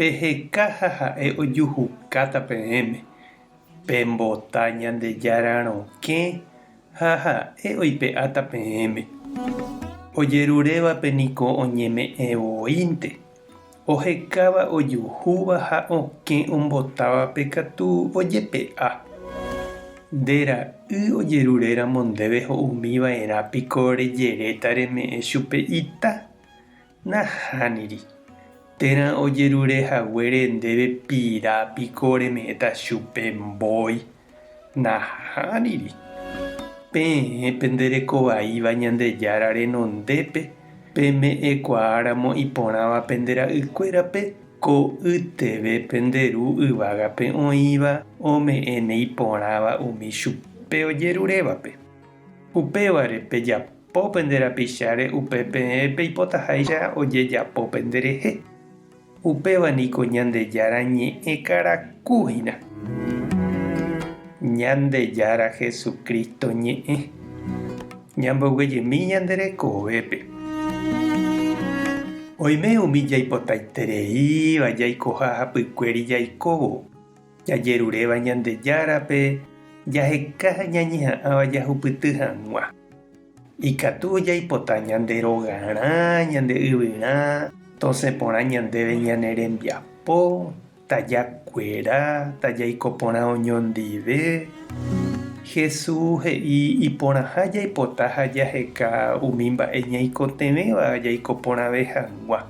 Peheka ha ha'e ojuhukáta peẽme, pembota Ñandejára rokẽ ha ha'e oipe'áta peẽme. Ojerurévape niko oñeme'ẽ voínte, ohekáva ojuhúva ha okẽ ombotávape katu ojepe'a. Nde ra'y ojeruréramo ndéve ho'umiva'erã piko rejeréta reme'ẽ chupe ita? Nahániri. Térã ojerure haguére ndéve pira piko reme'ẽta chupe mbói. Nahániri. Peẽ pende reko vaíva Ñandejára renondépe, peme'ẽkuaáramo iporãva pende ra'ykuérape, ko'ýteve pende ru yvágape oĩva ome'ẽne iporãva umi chupe ojerurévape. Upévare pejapo Po pende rapicháre upe peẽ peipotaháicha ojejapo penderehe. Upéva niko Ñandejára ñe'ẽ karaku hína. Ñandejára Jesucristo ñe'ẽ. Ñamboyguejemi ñande rekovépe. Oime umi jaipotaitereíva jaikoha hapykuéri jaikóvo. Jajeruréva Ñandejárape jaheka ha ñañeha'ãva jahupyty hag̃ua. Ikatu jaipota ñande rogarã, ñande yvyrã, tosẽ porã ñandéve ñane rembiapo, taja kuera, tajaiko porã oñondive. Hesu he'i iporãha jaipota ha jaheka umi mba'e ñaikotevẽva jaiko porãve hag̃ua.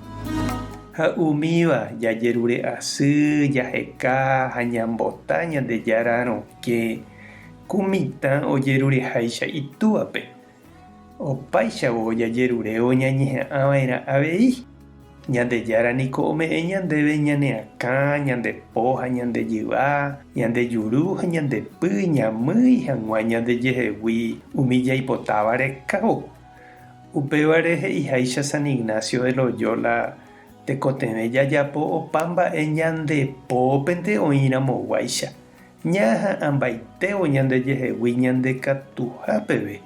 Ha umíva jajerure'asy, jaheka ha ñambota Ñandejára rokẽ, ku mitã ojerureháicha itúape. Opáichavo jajerurévo ñañeha'ãva'erã avei. Ñandejára niko ome'ẽ ñandéve ñane akã, ñande po ha ñande jyva, ñande juru ha ñande py ñamýi hag̃ua ñandejehegui umi jaipotáva rekávo. Upévare he'iháicha San Ignacio de Loyola, Tekotevẽ jajapo opa mba'e ñande pópente oĩramoguáicha, ñaha'ãmbaitévo ñandejehegui ñandekatuha peve,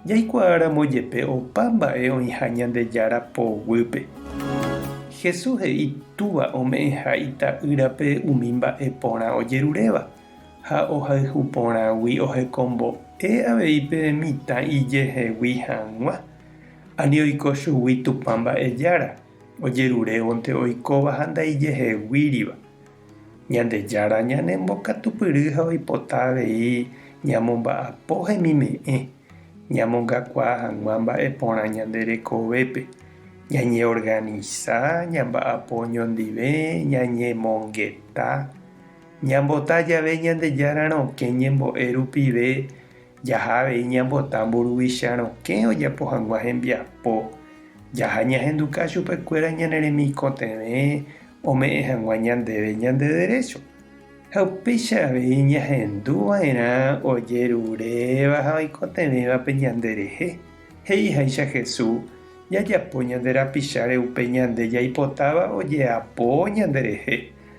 jaikuaáramo jepe opa mba'e oĩha Ñandejára poguýpe. Jesús he'i Túva ome'ẽha Ita'ýrape umi mba'e porã ojeruréva. ha ohayhu porãgui ohekombo'e avei pe mitã ijehegui hag̃ua, ani oiko chugui Tupã Mba'ejára ojerurévonte oikóva ha ndaijeheguíriva. Ñandejára ñanembokatupyry ha oipota avei ñamomba'apo hemime'ẽ, ñamongakuaa hag̃ua mba'e porã ñande rekovépe, ñañeorganisa, ñamba'apo oñondive, ñañemongeta, Ñambota jave Ñandejára rokẽ ñembo'e rupive, jaha avei ñambota mburuvicha rokẽ ojapo hag̃ua hembiapo. Jaha ñahenduka chupekuéra ñane remikotevẽ ome'ẽ hag̃ua ñandéve ñande derécho. Ha upéicha avei ñahendu va'erã ojeruréva ha oikotevẽvape ñanderehe. He'i háicha Jesús, Jajapo ñande rapicháre upe ñande jaipotáva ojeapo ñanderehe.